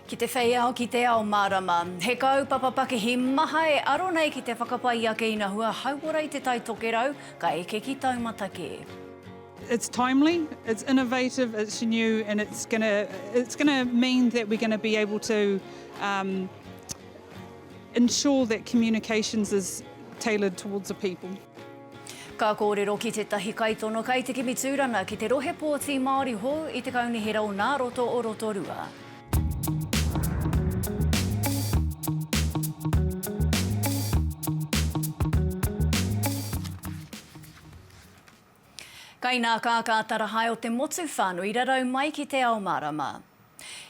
Ki te whei ao, ki te ao mārama. He kaupapa pakihi maha e aro nei ki te whakapai i ake ina hua hauora i Te Tai Tokerau, ka eke ki taumata kē. It's timely, it's innovative, it's new and it's going to it's going to mean that we're going to be able to um, ensure that communications is tailored towards the people. Ka kōrero ki tētahi kaitono kai te kimi tūranga ki te rohe pōti Māori hou i te Kaunihera o Nā Roto o Rotorua. Kainakākā tarahae o te motu whānui rarau mai ki Te Ao Mārama.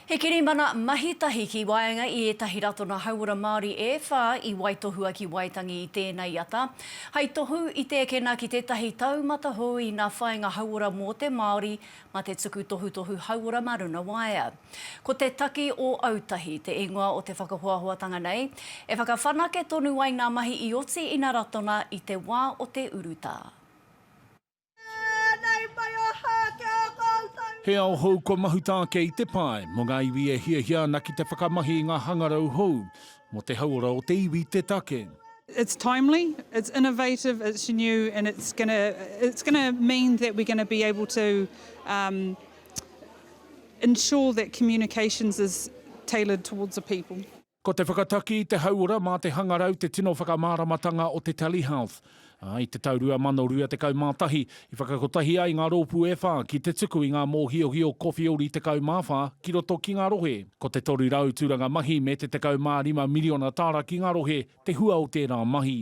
He kirimana mahi tahi ki waenga i ētahi Ratona Hauora Māori e whā i waitohua ki Waitangi i tēnei ata, hai tohu i tēkena ki tētahi taumata hou ina whainga hauora mō te Māori ma te tuku tohutohu hauora ma runa waea. Ko te taki o Autahi te ingoa o te whakahoahoatanga nei, e whakawhanake tonu ai ngā mahi i oti ina Ratona i te wā o te urutā. Nei mai aha ki a koutou. He ao hou kua mahuta ake i te pae mō ngā iwi e hiahia ana ki te whakamahi i ngā hangarau hou mō te hauora o te iwi te take. It's timely, it's innovative, it's new and it's gonna it's gonna mean that we're gonna be able to um ensure that communications is tailored towards the people. Ko te whakataki i te hauora mā te hangarau te tino whakamāramatanga o te Telehealth, ā, i te tau 2021, i whakakotahi ai ngā rōpū e whā ki te tuku i ngā mōhiohio kowhiori 14 ki roto ki ngā rohe. Ko te 300 tūranga mahi me te 15 miriona tāra ki ngā rohe te hua o tērā mahi.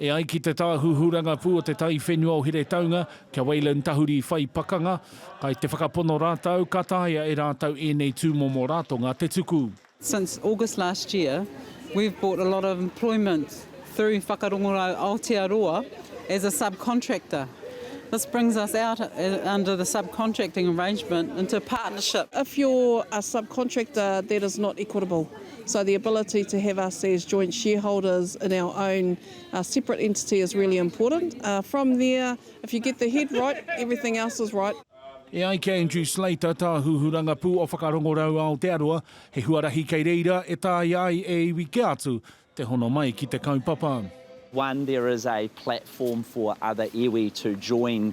E ai ki te Tāhuhu Rangapū o te Taiwhenua o Heretaunga, kia Wayland Tahuri whai pakanga, kai te whakapono rātou ka taea e rātou ēnei tūmomo ratonga te tuku. Since August last year, we've brought a lot of employment through Whakarongorau Aotearoa as a subcontractor. This brings us out under the subcontracting arrangement into a partnership. If you're a subcontractor, that is not equitable. So the ability to have us as joint shareholders in our own separate entity is really important. From there, if you get the head right, everything else is right. E ai ki a Andrew Slater, Tāhuhu Rangapū o Whakarongorau Aotearoa, he huarahi kei reira e taea ai e iwi kē atu te hono mai ki te kaupapa. One, there is a platform for other iwi to join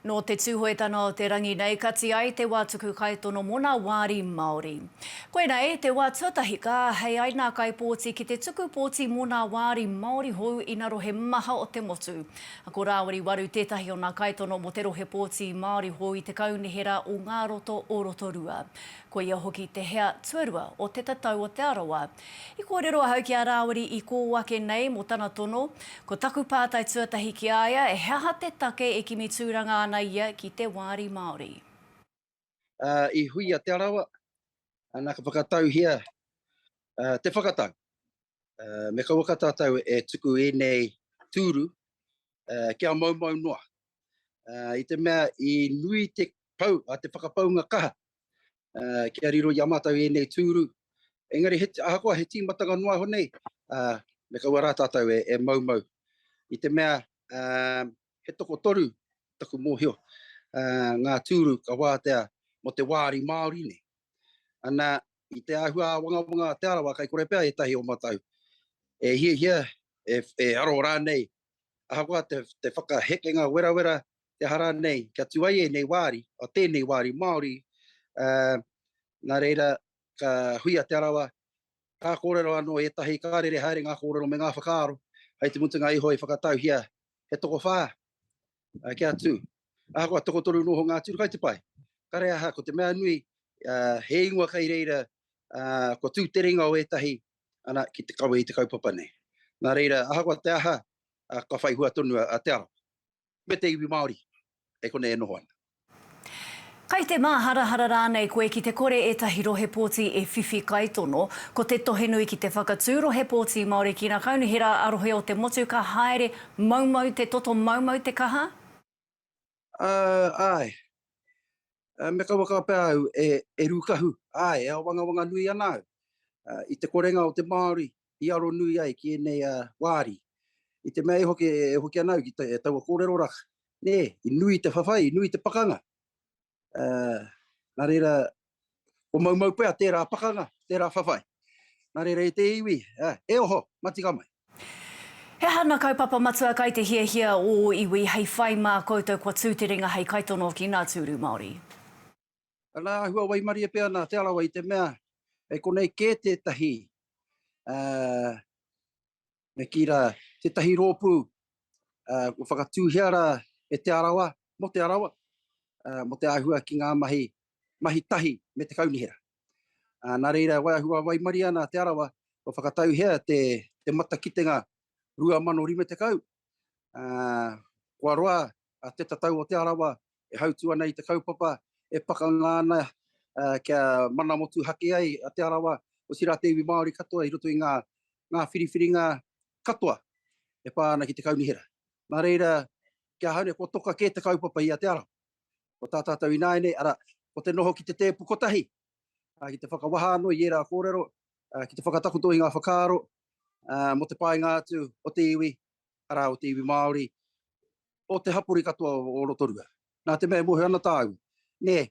Nō te Tūhoetanga o te Rangi nei ka ti ai te wā tuku kaitono mō nā wāri Māori. Koinei te wā tuatahi ka āhei ai nā kaipōti ki te tuku pōti mō nā wāri Māori hou ina rohe maha o te motu. Ko Rāwiri Waru tētahi o nā kaitono mō te rohe pōti Māori hou i te Kaunihera o Ngā Roto o Rotorua. Koia hoki te hea tuarua o Te Tatau o Te Arawa, I kōrero ahau ki a Rāwiri i kō ake nei mō tana tono, ko taku pātai tuatahi ki a ia, he aha te take e kimi tūranga ana ia ki te Wāri Māori? Ā, i hui a Te Arawa, nā ka whakatauhia te whakatau. Me kauaka tātou e tuku ēnei tūru kia maumau noa. I te mea i nui te whakapaunga kaha kia riro i a mātou ēnei tūru. Engari, ahakoa he tīmatanga noa iho nei, me kaua rā tātou e maumau. I te mea, he tokotoru taku mōhio ngā tūru ka wātea mō te wāri Māori nei. Ana, i te āhua āwangawanga a Te Arawa, kai kore pea ētahi o mātou e hiahia, e aro rānei ahakoa te whakahekenga werawera te aha rānei kia tū ai ēnei wāri, o tēnei wāri Māori, nā reira ka hui a Te Arawa, ka kōrero anō ētahi, ka rere haere ngā kōrero me ngā whakaaro, hei te mutunga iho i whakatauhia he tokowhā kia tū. Ahakoa tokotoru noho ngā tūru kai te pai, kare aha ko te mea nui he ingoa kei reira kua tū te ringa o ētahi ana, ki te kawe i te kaupapa nei. Nā reira, ahakoa te aha, ka whai hua tonu a Te Arawa, me te iwi Māori, e konei e noho ana. Kai te māharahara rānei koe ki te kore ētahi rohe pōti e whiwhi kaitono, ko te tohe nui ki te whakatū rohe pōti Māori ki ngā kaunihera a rohe o te motu ka haere maumau te toto maumau te kaha? Uh, ai. Uh, me kaua ka pea au e, e rūkahu, ai, e awangawanga nui ana au. Uh, I te korenga o te Māori, i aro nui ai ki enei uh, wāri. I te mea e hoki, e hoki ana au ki te, e taua kōrero raka. Nē, i nui te whawhai, i nui te pakanga. Uh, nā reira, Ko Maumaupea tērā pakanga, tērā whawhai. Nā reira e te iwi, e oho, matika mai. He aha na kaupapa matua kai te hiahia o o iwi hei whai ma koutou kua tu te ringa hei kaitono ki na turu Maori? Ana ahua waimarie pea na Te Arawa i te mea e konei ke tetahi Me kī rā, tētahi rōpū, kua whakatūhia rā e Te Arawa, mō Te Arawa, mō te āhua ki ngā mahi, mahi tahi me te kaunihera. Nā reira, e waiahu waimarie ana a Te Arawa, kua whakatauhea te matakitenga 2050, kua roa a Te Tatau o Te Arawa e hautū ana i te kaupapa e pakanga ana kia mana motuhake ai a Te Arawa, otirā te iwi Māori katoa i roto i ngā whiriwhiringa katoa e pā ana ki te kaunihera. Nā reira, ki ahau nei, kua toka kē te kaupapa i a Te Arawa. Ko tā tātou ināianei, arā, ko te noho ki te tēpu kotahi, ki te whakawaha anō i ērā kōrero, ki te whakatakoto i ngā whakaaro mō te painga atu o te iwi arā, o te iwi Māori, o te hapori katoa o Rotorua. Nā te mea e mōhio ana tāua, nē,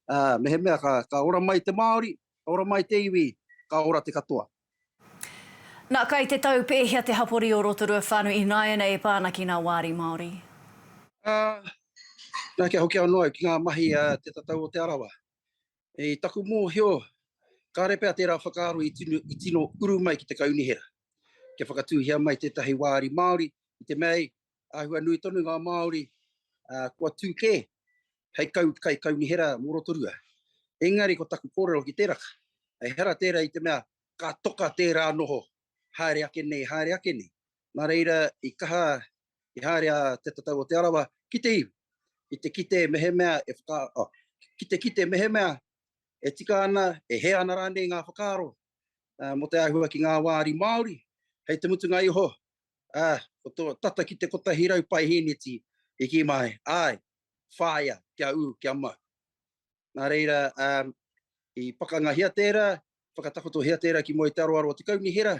ā, mehemea ka, ka ora mai te Māori, ka ora mai te iwi, ka ora te katoa. Nā, kai te tau pēhea te hapori o Rotorua whānui ināianei e pā ana ki ngā wāri Māori? Ā, nā, kia hoki anō au ki ngā mahi a Te Tatau o Te Arawa. I taku mōhio, kāre pea tērā whakaaro i tino uru mai ki te kaunihera, kia whakatūhia mai tētahi wāri Māori, i te mea, āhua nui tonu ngā Māori kua tū kē hei kaikaunihera mō Rotorua. Engari ko taku kōrero ki tēraka, ehara tērā i te mea ka toka tērā noho haere ake nei, haere ake nei. Nā reira, i kaha i haere a Te Tatau o Te Arawa ki te iwi, ki te kite mehemea e whaka, oh, ki te kite mehemea e tika ana, e hē ana rānei ngā whakaaro uh, mō te āhua ki ngā wāri Māori, hei te mutunga iho, uh, o tō tata ki te kotahi rau pae hīneti, i ki mai, ai, whāia, kia ū, kia mau. Nā reira, um, i pakangahia tērā, whakatakotohia tērā ki mua i te aroaro o te kaunihera,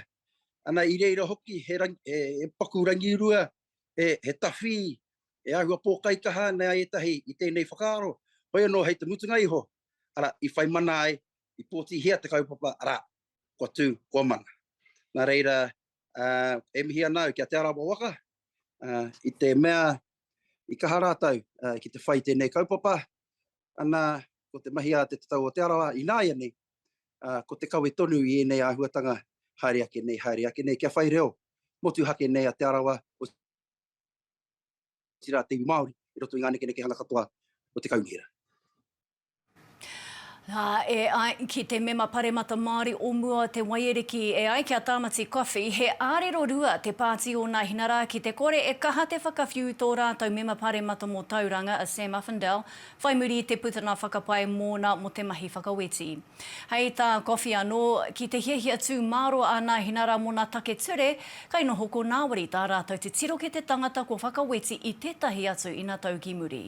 ana i reira hoki he paku rangirua, he tawhī, he āhua pōkaikaha ana ētahi i tēnei whakaaro, hoi anō hei te mutunga iho, arā, i whai mana ai, i pōtihia te kaupapa, arā, kua tū, kua mana. Nā reira, e mihi ana au ki a Te Arawa waka, i te mea i kaha rātou ki te whai tēnei kaupapa, ana, ko te mahi a te tatau o Te Arawa ināianei, ā, ko te kawe tonu i ēnei āhuatanga haere ake nei, haere ake nei kia whai reo motuhake nei a Te Arawa, otirā te iwi Māori, i roto i ngā nekenekehanga katoa o te kaunihera. Ā, e ai ki te Mema Paremata Māori o mua o Te Waiariki, e ai ki a Tāmati Coffey, he ārero rua te Pāti o Nāhinara ki te kore e kaha te whakawhiu tō rātou Mema Paremata mō Tauranga, a Sam Uffindell, whai muri i te putanga whakapae mōna mō te mahi whakaweti. Hei tā Coffey anō, ki te hiahia tū mārō a Nāhinara mō nā take ture, kai noho ko Ngāwari tā rātou te tiro ki te tangata kua whakaweti i tētahi atu ina tau ki muri.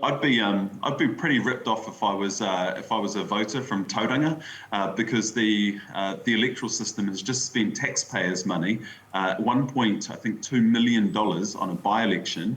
I'd be um I'd be pretty ripped off if I was uh if I was a voter from Tauranga uh because the uh the electoral system has just spent taxpayers money uh one point I think two million dollars on a by-election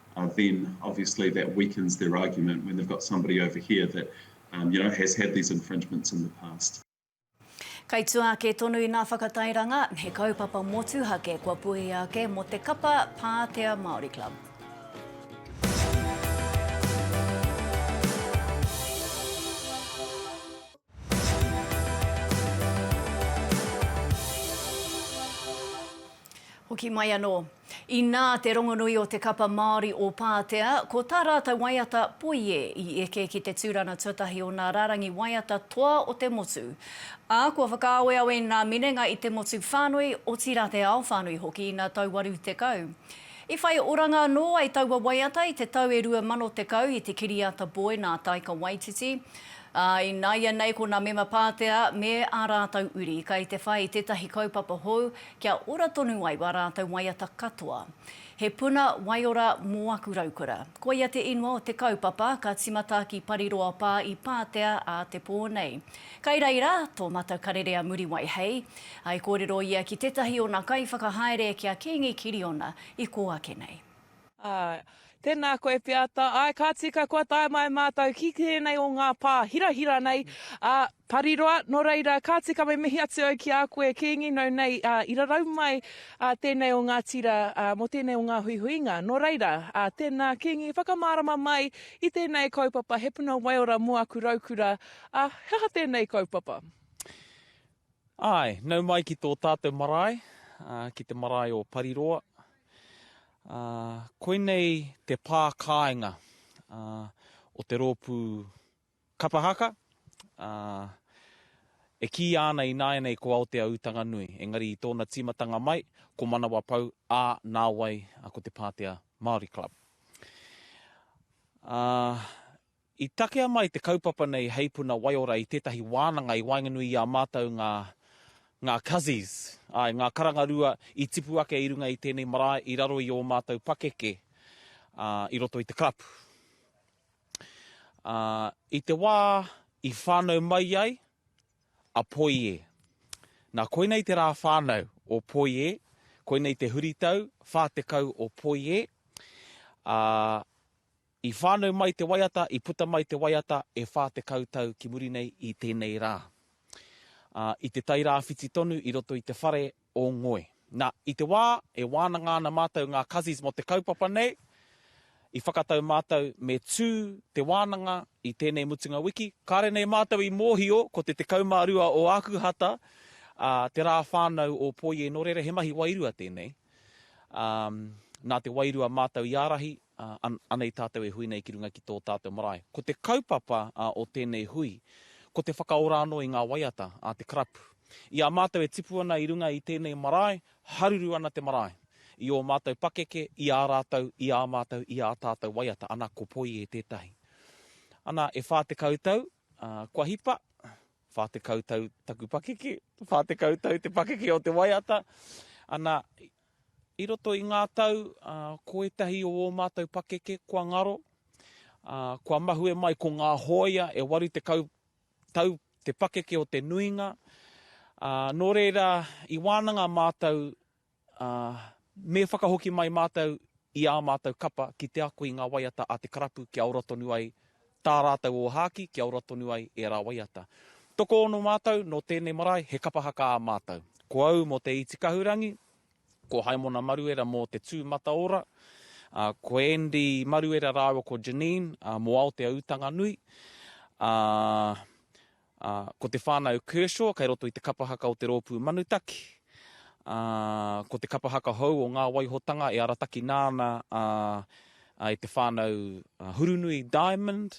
then obviously that weakens their argument when they've got somebody over here that um, you know, has had these infringements in the past. Kai tua ake tonu i ngā whakatairanga, he kaupapa motuhake kua puhia ake mō te kapa Pātea Māori Club. Hoki mai anō. Inā te rongonui o te kapa Māori o Pātea, ko tā rātou waiata Poie i eke ki te tūrana tuatahi o nā rārangi waiata toa o te motu. Ā, kua whakaaweawe nā minenga i te motu whānui, otirā te ao whānui hoki ina tau 80. I whai oranga anō ai taua waiata i te tau e 2010 i te kiriata Boy nā Taika Waititi. Ā, ināianei ko nā Mema Pātea me ā rātou uri kai te whai i tētahi kaupapa hou kia ora tonu ai wā rātou waiata katoa. He puna waiora mō aku raukura. Koia te ingoa o te kaupapa ka timata ki Pariroapā i Pātea ā te pō nei. Kai reira tō Mata Karere a Muriwai hei. I kōrero ia ki tētahi o nā kaiwhakahaere ki a Kīngi Kiriona i kō ake nei. Āe. Tēnā koe Piata. Āe, ka tika kua tae mai mātou ki tēnei o ngā pā hirahira nei a Pariroa. Nō reira, ka tika me mihi atu au ki a koe, Kīngi, nau nei i rarau mai tēnei o ngā tira mō tēnei o ngā huihuinga. Nō reira, tēnā Kīngi, whakamārama mai i tēnei kaupapa, He Puna Waiora mō aku Raukura, he aha tēnei kaupapa? Āe, nau mai ki tō tātou marae, ki te marae o Pariroa. Koinei te pā kāinga o te rōpū Kapa Haka, e kīia ana ināianei ko Aoteaū Tanganui, engari i tōna tīmatanga mai, ko Manawapau, ā, nāwai ko te Pātea Māori Club. I takea mai te kaupapa nei hei puna waiora i tētahi wānanga i waenganui i a mātou ngā, ngā Cuzzies, āe, ngā karanga rua i tipu ake i runga i tēnei marae i raro i ō mātou pakeke, ā, i roto i te karapu. Ā, i te wā i whānau mai ai a Poie. Nā, koinei te rā whānau o Poie, koinei te huritau whā tekau o Poie, ā, I whānau mai te waiata, i puta mai te waiata e whā tekau tau ki muri nei i tēnei rā. Ā, i te tai rāwhiti tonu i roto i te whare o Ngoe. Nā, i te wā e wānanga ana mātou ngā Kazies mō te kaupapa nei, i whakatau mātou me tū te wānanga i tēnei mutunga wiki. Kāre nei mātou i mōhio ko te 12 o Ākuhata, ā, te rā whānau o Poi e nōrere, he mahi wairua tēnei. Ā, nā te wairua mātou i ārahi, ā, anei tātou e hui nei ki runga ki tō tātou marae. Ko te kaupapa o tēnei hui, ko te whakaora anō i ngā waiata a te karapu. I a mātou e tipu ana i runga i tēnei marae, haruru ana te marae. I ō mātou pakeke, i ā rātou, i ā mātou, i ā tātou waiata, ana ko Poie tētahi. Ana, e whā tekau tau, ā, kua hipa, whā tekau tau taku pakeke, whā tekau tau te pakeke o te waiata, ana, I roto i ngā tau, ko ētahi o ō mātou pakeke kua ngaro, kua mahue mai ko ngā hōia e 80 tau te pakeke o te nuinga, nō reira i wānanga mātou me whakahoki mai mātou i ā mātou kapa ki te ako i ngā waiata a te karapu kia ora tonu ai tā rātou ōhākī, kia ora tonu ai ērā waiata. Tokoono mātou nō tēnei marae, he kapa haka ā mātou. Ko au mō Te Iti Kahurangi, ko Haimona Maruera mō Te Tū Mataora, ā, ko Andy Maruera rāua ko Janine mō Aotea Ūtanganui, ā, ā, ko te whānau Kershaw kei roto i te kapa haka o te Rōpū Manutaki, ā, ko te kapa haka hou o Ngā Waihotanga e aratakina ana, ā, ā, e te whānau Hurunui Diamond,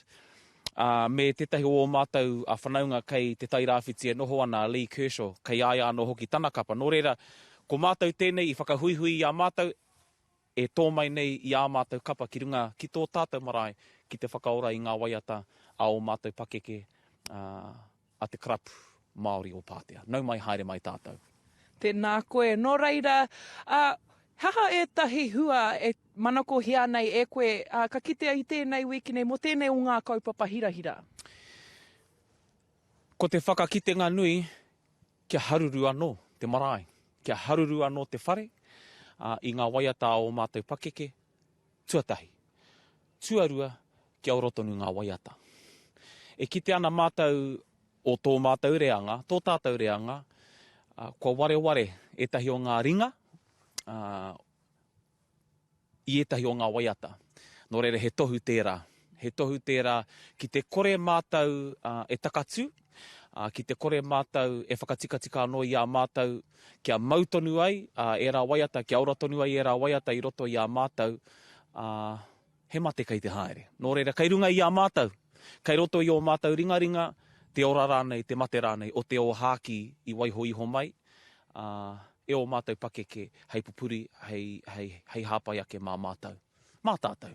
ā, me tētahi o ō mātou whanaunga kei Te Tairāwhiti e noho ana a Lee Kershaw, kei a ia anō hoki tana kapa. Nō reira, ko mātou tēnei i whakahuihui i a mātou, E tō mai nei i ā mātou kapa ki runga ki tō tātou marae ki te whakaora i ngā waiata a ō mātou pakeke, ā, a te Karapu Māori o Pātea. Nau mai, haere mai tātou. Tēnā koe. Nō reira, ā, he aha ētahi hua e manakohia ana e koe, ā, ka kitea i tēnei wiki nei mō tēnei o ngā kaupapa hirahira? Ko te whakakitenga nui, Kia haruru anō te marae, kia haruru anō te whare, ā, i ngā waiata a ō mātou pakeke, tuatahi. Tuarua, kia ora tonu ngā waiata. E kite ana mātou o tō mātou reanga, tō tātou reanga, kua wareware ētahi o ngā ringa, ā, i ētahi o ngā waiata. Nō reira he tohu tērā. He tohu tērā ki te kore mātou e takatū, ki te kore mātou e whakatikatika anō i a mātou kia mau tonu ai ērā waiata, kia ora tonu ai ērā waiata i roto i a mātou, ā. He mate kei te haere. Nō reira, kei runga i a mātou, kei roto i ō mātou ringaringa, te ora rānei, te mate rānei o te ōhākī i waiho iho mai, ā, e ō mātou pakeke hei pupuri, hei, hei, hei hāpai ake mā mātou. Mā tātou.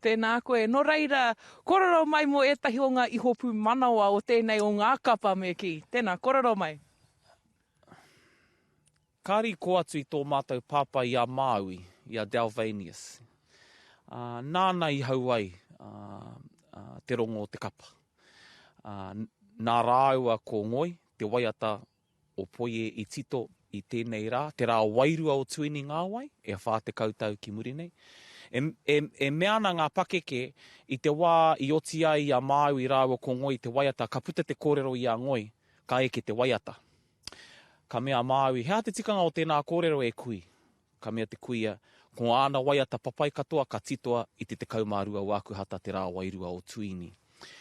Tēnā koe. Nō reira, kōrero mai mō ētahi o ngā ihopū manawa o tēnei o ngā kapa me kī. Tēnā, kōrero mai. Kāri kō atu i tō mātou pāpā i a Māui, i a Dalvanius. Ā, nāna i hau ai te rongo o te kapa. Ā, nā rāua ko Ngoi, te waiata o Poie i tito i tēnei rā, te rā wairua o Tuini Ngāwai, e whā tekau tau ki muri nei. E, e, e mea ana ngā pakeke, i te wā i oti ai i a Māui rāua ko Ngoi te waiata, ka puta te kōrero i a Ngoi, ka eke te waiata. Ka mea a Māui, He aha te tikanga o tēnā kōrero e kui? Ka mea te kuia, Ko āna waiata papai katoa ka titoa i te 12 o Ākuhata te rā wairua o Tuini.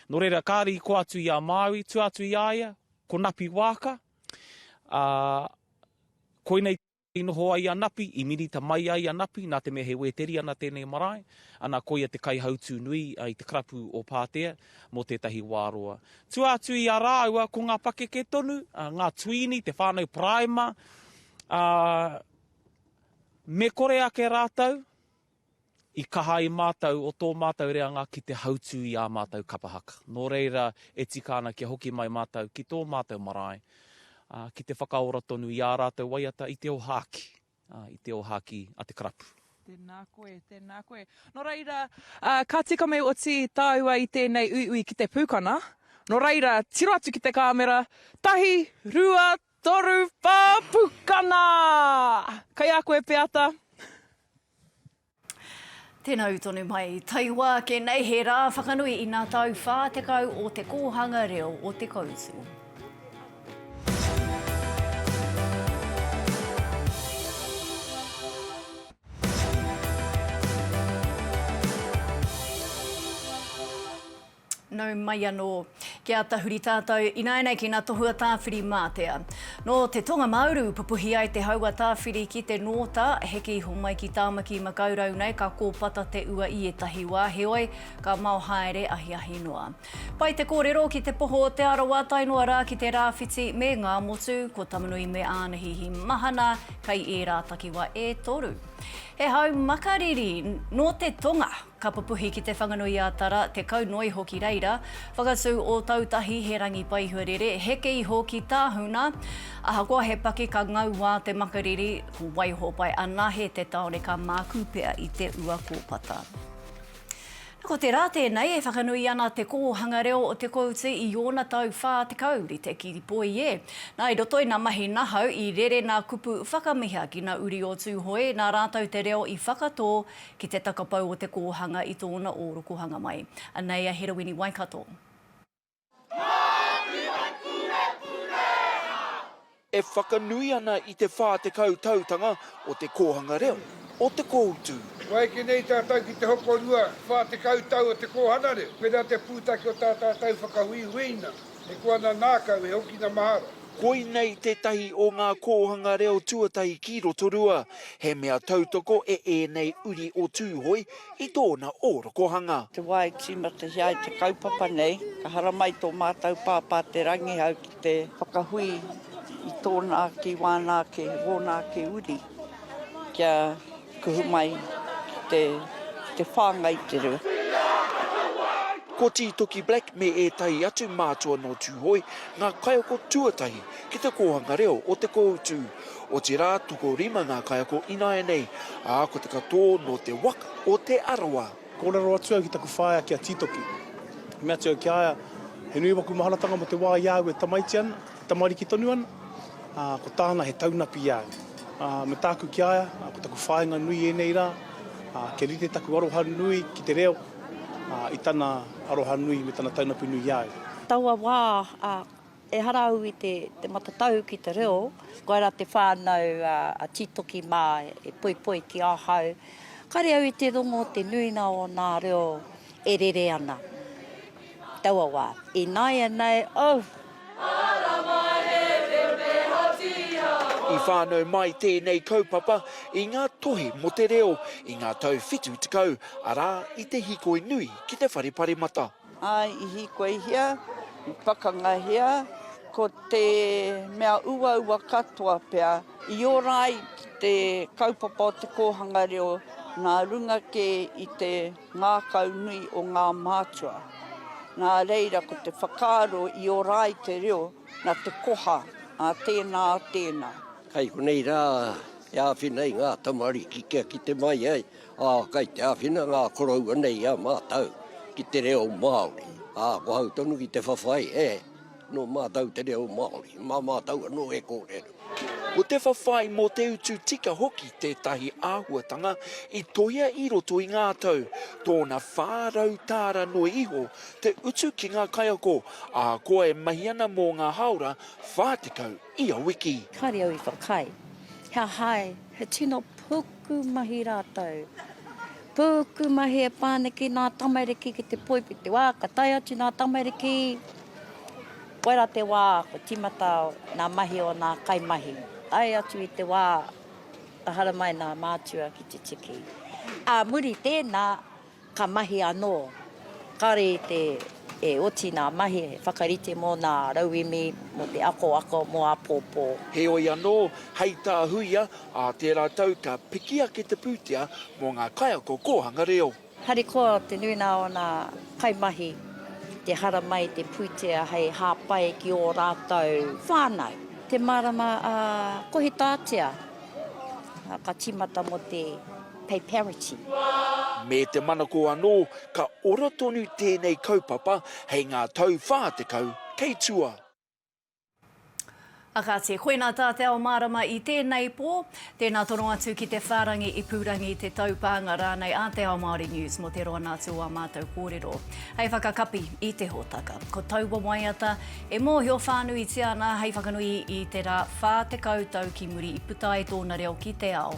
Nō reira, kāre i koa atu i a Māui, tua atu i a ia, ko Napi Waaka, ā, koinei. I noho ai a Napi, i minita mai ai a Napi, nā te mea he Wēteriana tēnei marae, ana koia te kaihautū nui i te karapu o Pātea mō tētahi wā roa. Tua atu i a rāua, ko ngā pakeke tonu, ngā tuīni, te whānau paraima, ā, me kore ake rātou, I kaha ai mātou o tō mātou reanga ki te hautū i ā mātou kapa haka. Nō reira, e tika ana kia hoki mai mātou ki tō mātou marae, ā, ki te whakaora tonu i ā rātou waiata i te ohāki, ā, i te ohāki a te karapu. Tēnā koe, tēnā koe. Nō reira, ā, ka tika mai oti tāua i tēnei uiui ki te pūkana. Nō reira, tiro atu ki te kāmera, tahi, rua, Toru pa pukana! Kai a koe Peata. Tena u tonu mai. Taiwa ake nei he ra whakanui i na tau 40 o te Kohanga Reo o Te Koutu. Nau mai anō. Kia tahuri tātou ināianei ki ngā tohu a Tāwhiri-mātea. Nō te Tonga-mā-uru pupuhi ai te hau a Tāwhiri ki te Nōta, heke iho mai ki Tāmaki-makau-rau nei ka kōpata te ua i ētahi wā, heoi, ka mao haere ahiahi noa. Pai te kōrero ki te poho o Te Arawa tae noa rā ki te Rāwhiti me Ngāmotu, ko Tamanui me Ānahihi mahana kei ērā takiwā e toru. He hau makariri nō te Tonga. Ka pupuhi ki Te Whanganui-ā-Tara, Te Kaunoiho ki reira, whakatū Ōtautahi, he rangi paihuarere, heke iho ki Tāhuna. Ahakoa he paki ka ngau wā te makariri, ko Waiho pae anahe te taone ka mākū pea i te ua kōpata. Na, ko te rā tēnei e whakanui ana Te Kōhanga Reo o Te Kooti i ōna tau 40 rite ki Poie. Na, i roto i nā mahi nahau, i rere nā kupu whakamiha ki nā uri o Tūhoe, nā rātou te reo i whakatō Ki te takapau o te kōhanga i tōna ōrokohanga mai. Anei a Heroini Waikato. E whakanui ana i te 40 tautanga o te kōhanga reo o Te Kōutu. Waiake nei tātou ki te hokorua 40 tau o te kōhana reo, pērā te pūtake o tā tātou whakahuihuinga. E kua ana nākau e hokina mahara. Koinei tētahi o ngā kōhanga reo tuatahi ki Rotorua, he mea tautoko e ēnei uri o Tūhoe i tōna ōrokohanga. Te wā e tīmatahia ai te kaupapa nei, ka haramai tō mātou Pāpā Te Rangihau ki te whakahui i tōna kiwāna ake, wōna ake uri, kia. Kuhu mai ki te whāngai te rua. Ko Tītoki Black me ētahi atu mātua nō Tūhoe ngā kaiako tuatahi ki te kōhanga reo o Te Kōutu. Otirā, tokorima ngā kaiako ināianei, ā, ko te katoa nō te waka o Te Arawa. Kōrero atu au ki taku whaea ki a Tītoki. I mea atu au ki a ia, He nui waku maharatanga mo te wā i a au e tamaiti ana. Tamariki tonu ana, ā, ko tāna he taunaku i a au. Ā, me tāku ki a ia, ā, ko taku whāinga nui ēnei rā, ā, kia rite taku aroha nui ki te reo, ā, i tana aroha nui me tana taunaku nui i a au. Taua wā, ā, ehara au i te matatau ki te reo, koirā te whānau a Tītoki mā e poipoi ki ahau, kāre au i te rongo te nuinga o nā reo e rere ana. Taua wā, ināianei, oh! I whānau mai tēnei kaupapa i ngā tohe mō te reo i ngā tau whitu tekau, arā, i te hīkoi nui ki te whare paremata. I hīkoihia, i pakangahia, ko te mea uaua katoa pea i ora ai ki te kaupapa o te kōhanga reo nā runga kē i te. Ngākau nui o ngā mātua. Nā reira ko te whakaaro i ora ai te reo na te koha, a tēnā, a tēnā. Kai konei rā e āwhina ai ngā tamariki kia kite mai ai, ā, kai te āwhina ngā koroua nei i a mātou ki te reo Māori, ā, ko hau tonu ki te whawhai, e. Nō mātou te reo Māori, mā mātou anō e kōrero. Ko te whawhai mō te utu tika hoki tētahi āhuatanga i toia i roto i ngā tau, tōna 400 tāra noa iho te utu ki ngā kaiako ahakoa e mahi ana mō ngā hāora 40 ia wiki. Kāre au i whakaae, he aha ai, he tino puku. Pūku mahi rātou. Pūku mahi e whānaki nā tamariki ki te poipiti. Wā, ka tae atu nā tamariki, koirā te wā ko tīmata nā mahi o nā kaimahi. Tae atu i te wā, ka haramai nā mātua ki te tiki. Ā muri tēnā, Ka mahi anō. Kāore i te e oti ngā mahi he whakarite mō ngā rauemi, mō te akoako, mō āpōpō. Heoi anō, hei tā Huia, ā tērā tau ka piki ake te pūtea mō ngā kaiako kōhanga reo. Harikoa te nuinga o ngā kaimahi ki te haramai te pūtea hei hāpai ki ō rātou whānau. Te marama ā, kohi tātea, ā, ka tīmata mō te. Pei Pearity. Me te manako anō, ka ora tonu tēnei kaupapa hei ngā tau 40 kei tua. A kāti, koinā tā te ao mārama i tēnei pō. Tēnā tono atu ki te whārangi ipurangi, te taupānga rānei a Te Ao Māori News mō te roana atu o ā mātou kōrero. Hei whakakapi i te hōtaka, ko taua waiata e mōhio whānuitia ana hei whakanui i te rā 40 tau ki muri i puta ai tōna reo ki te ao,